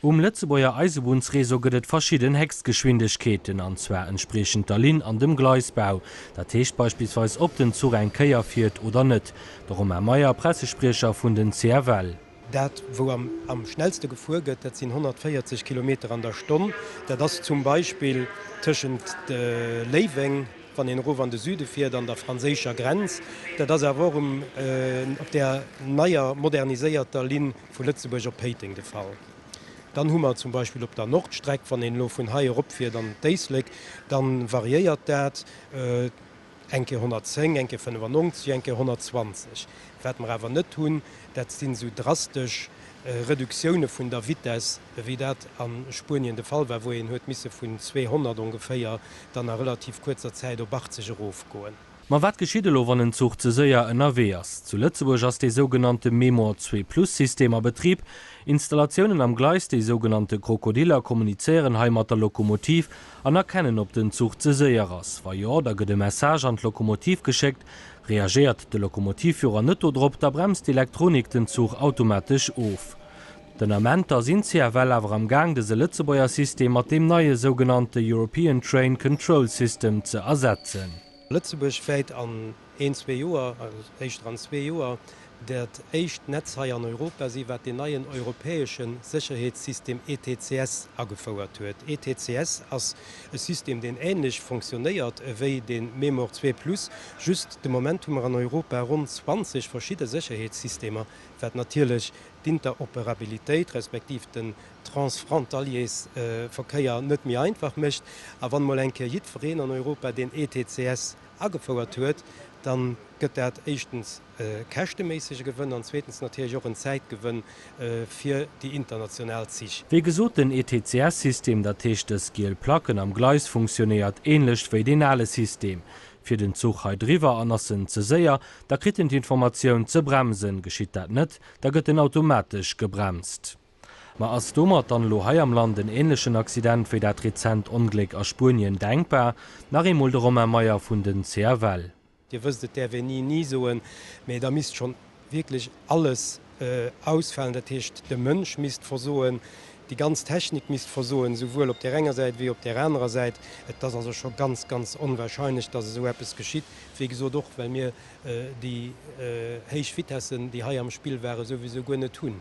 Um Lëtzebuerger Eisebunnsreseau gëtt et verschidden Héchstgeschwindegkeeten, an zwar entspriechend der Linn an dem Gleisbau. Dat heescht beispillsweis, ob den Zuch eng Kéier fiert oder net. De Romain Meyer, Pressespriecher vun den CFL. Dat, wou am schnellste gefuer gëtt, dat sinn 140 Kilometer an der Stonn. Dat ass zum Beispill tëschent Léiweng, wann een erof an de Süde fiert, an der franséischer Grenz. Dat ass awer och um op där neier, moderniséierter Linn vu Lëtzebuerg op Péiteng de Fall. Dann hu mer zum Beispill op der Nordstreck, wann een elo vun hei eropfiert an d'Éislek, da variéiert dat. Eng Kéier 110, eng Kéier 95, eng Kéier 120. Wat mer awer net hunn, dat sinn esou drastesch Reduktioune vun der Vitess, wéi dat a Spuenien de Fall war, wou een huet misse vun 200 ongeféier dann a relativ kuerzer Zäit op 80 erofgoen. Ma wat geschitt elo, wann en Zuch ze séier ënnerwee ass? Zu Lëtzebuerg ass dee sougenannte Mémoire Zwee Plus-System a Betrib. Installatiounen am Gleis, déi sougenannte Krokodiller, kommunizéieren hei mat der Lokomotiv An erkennen op den Zuch ze séier ass? Wa jo, da gëtt e Message an d'Lokomotiv geschéckt. Reagéiert de Lokomotivführer net do drop, da bremst d'Elektronik den Zuch automatesch of. Den Ament ass InCFL awer am gaang dëse Lëtzebuerger System mat deem neie sougenannte European Train Control System ze ersetzen. Lëtzebuerg wäit an Een, zwee Joer, éischter an zwee Joer, dat éischt Netz hei an Europa si wat deen neien europäesche Sécherheetssystem ETCS agefouert huet. ETCS ass e System deen änlech fonctionnéiert ewéi de Memor zwee plus, just de Moment hu mer an Europa ronn 20 verschidde Sécherheetssystemer, wat natierlech d'Interoperabilitéit respektiv den Transfrontaliers-Verkéier net méi einfach mécht. A wann emol eng Kéier jiddwereen an Europa deen ETCS agefouert huet, da gëtt dat éischtens e käschteméissege Gewënn an zweetens natierlech och en Zäitgewënn fir déi international Zich. Wéi gesot, den ETCS-System, dat heescht dës giel Placken am Gleis, funktionéiert ähnlecht wéi deen ale System. Fiert en Zuch hei driwwer an ass en ze séier, da kritt en d'Informatioun ze bremsen, geschitt dat net, da gëtt en automatesch gebremst. Ma ass domat dann elo hei am Land en ähnlechen Accident wéi dat rezent Ongléck a Spuenien denkbar? Nach eemol de Romain Meyer vun den CFL. Dir wësst, et däerf een ni ni soen, mä da misst schonn wierklech alles ausfalen. Dat heescht, de Mënsch misst versoen, déi ganz Technik misst versoen, souwuel op där enger Säit wéi op där anerer Säit. Et ass also scho ganz, ganz onwahrscheinlech, datt esou eppes geschitt, wéi gesot och well mir déi héich Vitessen, déi hei am Spill waren, souwisou guer net hunn.